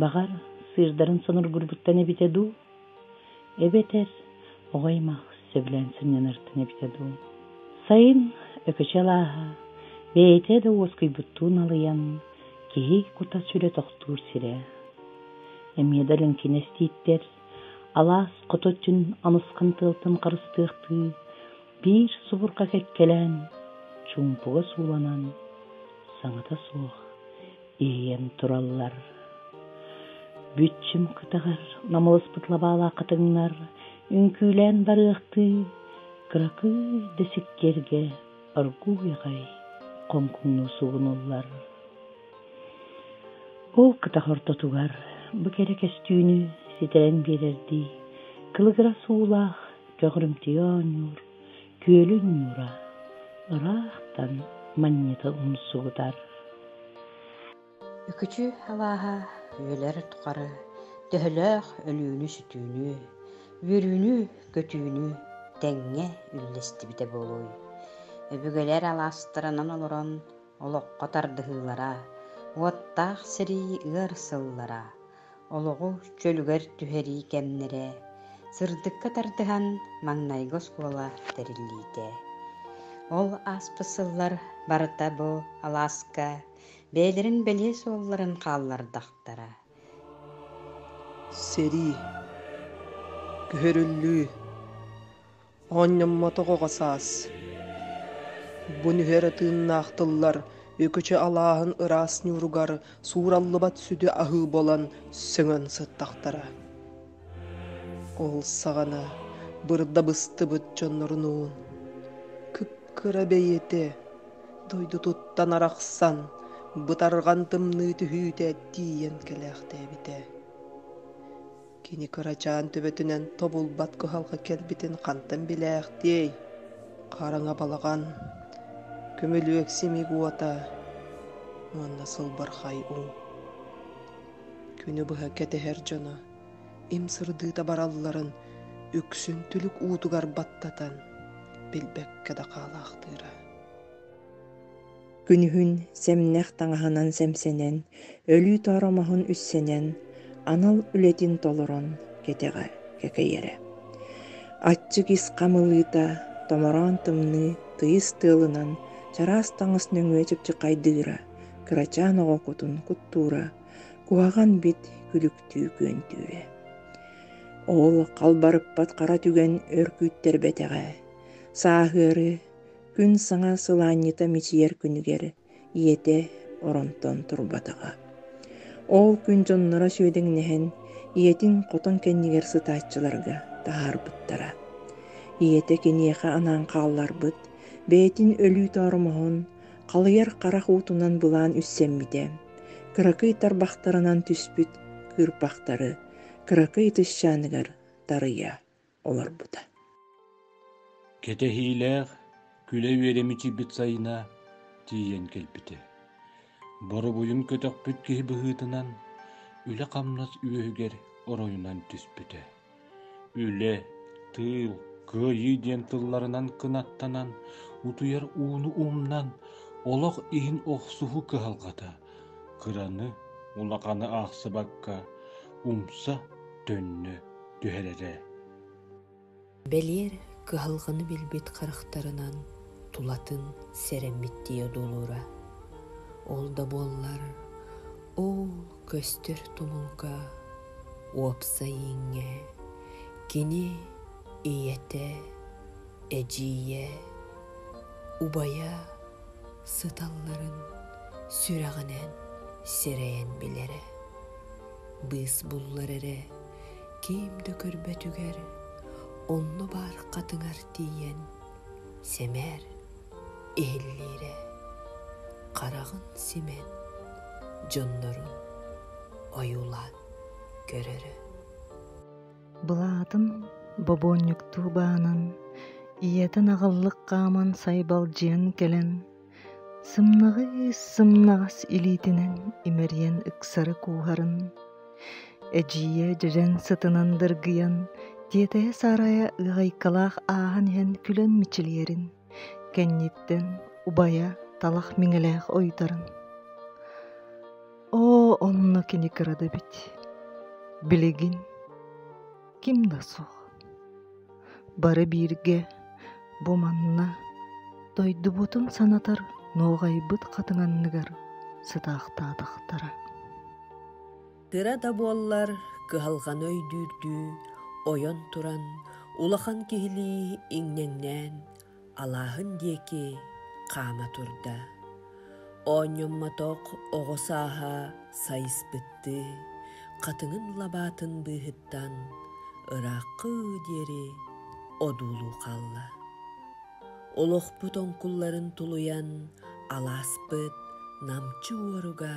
Баҕар, сыырдарын сонургурбуттан эбитэ дуу? Эбэтэр оҕо аймах сөбүлээн сынньанартан эбитэ дуу? Сайын Өкөчөл ааһа, бэйэтэ да уоскуйбуттуу налыйан, киһи кута-сүрэ тохтуур сирэ. Эмиэ да лэҥкин эстииттэр, алаас хото өттүн амысхан тыалтан харыстыахтыы, биир субурҕа кэккэлээн, чуумпуга сууланан, саҥата суох, иэйэн тураллар. Бүччүм кытыгар намылыспыт лабаалаах хатыҥнар үҥкүүлээн барыахтыы кыракый да сиккиэргэ оргууй аҕай хоҥкуҥнуу сугунуллар. Ол кытах ортотугар бу кэрэ кэстүүнү ситэрэн биэрэрдии кылыгырас уулаах көҕрүмтүйэ оонньуур күөлүн ньуура ыраахтан манньыта умсугутар Үкүчү алааһа үөлэр тухары төһөлөөх өлүүнү-сүтүүнү, үөрүүнү-көтүүнү тэҥҥэ үллэстибитэ буолуой? Өбүгэлэр алаастарынан олорон олоххо тардыһыылара, уоттаах сэрии ыар сыллара, олоҕу чөлүгэр түһэрии кэмнэрэ сырдыкка тардыһан маҥнайгы оскуола тэриллиитэ ол ааспыт сыллар барыта бу алааска бэйэлэрин бэлиэ суолларын хааллардахтара сэрии көһөрүллүү оонньоммотох оҕо саас бу нүһэр тыыннаах тыллар үкүчү алааһын ыраас ньууругар суураллыбат сүдү аһыы буолан сөҥөн сыттахтара ол саҕана бырдабыстыбыт дьоннорунуун кыккыра бэйэтэ дойдутуттан арахсан бытарҕан тымныы түһүүтэ тиийэн кэлээхтээбитэ Кини кырачаан төбөтүнэн тобулбат кыһалҕа кэлбитин хантан билээхтиэй? Хараҥа балаҕан, көмүлүөк симик уота уонна сылбархай уу. Күнү быһа кэтэһэр дьоно им сырдыыта баралларын үксүн түлүк уутугар баттатан билбэккэ да хаалаахтыыра. Күнүһүн сэмнэх таҥаһынан сэмсэнэн, өлүү-тоор омоһун үссэнэн, анал үлэтин толорон кэтэҕэ кэкэйэрэ. Аччык ис хамылыыта, томороон тымныы тыйыс тыалынан чараас таҥас нөҥүө чыпчыкайдыыра, кырачаан оҕо кутун куттуура, куһаҕан бит күлүктүү күөнтүүрэ. Ол халбарыппат хара түгэн өр күүттэрбэтэҕэ, сааһыары Күн саҥа сылаанньыта мичийэр күнүгэр ийэтэ оронтон турбатаҕа. Ол күн дьонноро сүөдэҥнэһэн ийэтин хотон кэннигэр сытааччыларга таһаарбыттара. Ийэтэ киниэхэ анаан хаалларбыт, бэйэтин өлүү тооромоһун, халыйар харах уутунан былаан үссэммитэ, кыракый тарбахтарынан түспүт кыырпахтары кыракый ытысчааныгар тарыйа. олорбута. Кэтэһиилээх күлэ үөрэ мичийбит сайына тиийэн кэлбитэ. Боробуйун көтөхпүт киһи быһыытынан үлэ-хамнас үөһүгэр оройунан түспүтэ. Үлэ, тыыл, кыайыы диэн тылларынан кынаттанан, утуйар ууну умнан, олох иһин охсуһу кыһалҕата, кыраны, улаханы аахсыбакка, умса, төннө, түһэрэрэ. Бэлиэр кыһалҕаны билбит харахтарынан тулатын сэрэммиттии одуулуура. Ол да буоллар оо көстөр тумулга уопсай ииҥҥэ кини ийэтэ, эдьиийэ, убайа сыталларын сүрэҕинэн сэрэйэн билэрэ. Быыс буллар эрэ ким да көрбөтүгэр онно баар хатыҥар тиийэн сэмээр иһиллиирэ хараҕын симэн дьоннорун ойуулаан көрөрө былаатын бобуонньуктуу баанан ийэтин аҕаллык хааман сайбалдьыйан кэлэн Сымнаҕыы сымнаҕас илиитинэн имэрийэн ыксары кууһарын, эдьиийэ дьэдьэн сытынан дыргыйан, тиэтэһэ сарайа ыаҕайкалаах ааһан иһэн күлэн мичилийэрин, кэнниттэн убайа талах миҥэлээх ойутарын. Оо, онно кини кыра да эбит. Билигин ким да суох бары бииргэ бу манна дойдубутун санатар нуоҕайбыт хатыҥ анныгар сытаахтаатахтара тыра да буоллар кыһалҕаны өйдүүрдүү ойон туран улахан киһилии иҥнэҥнээн алааһын диэки хаама турда. Оонньоммотох оҕо сааһа сайыспыттыы хатыҥын лабаатын быыһыттан ырааххы диэри одуулуу хаалла. Олохпут оҥкулларын тулуйан алааспыт намчы уоруга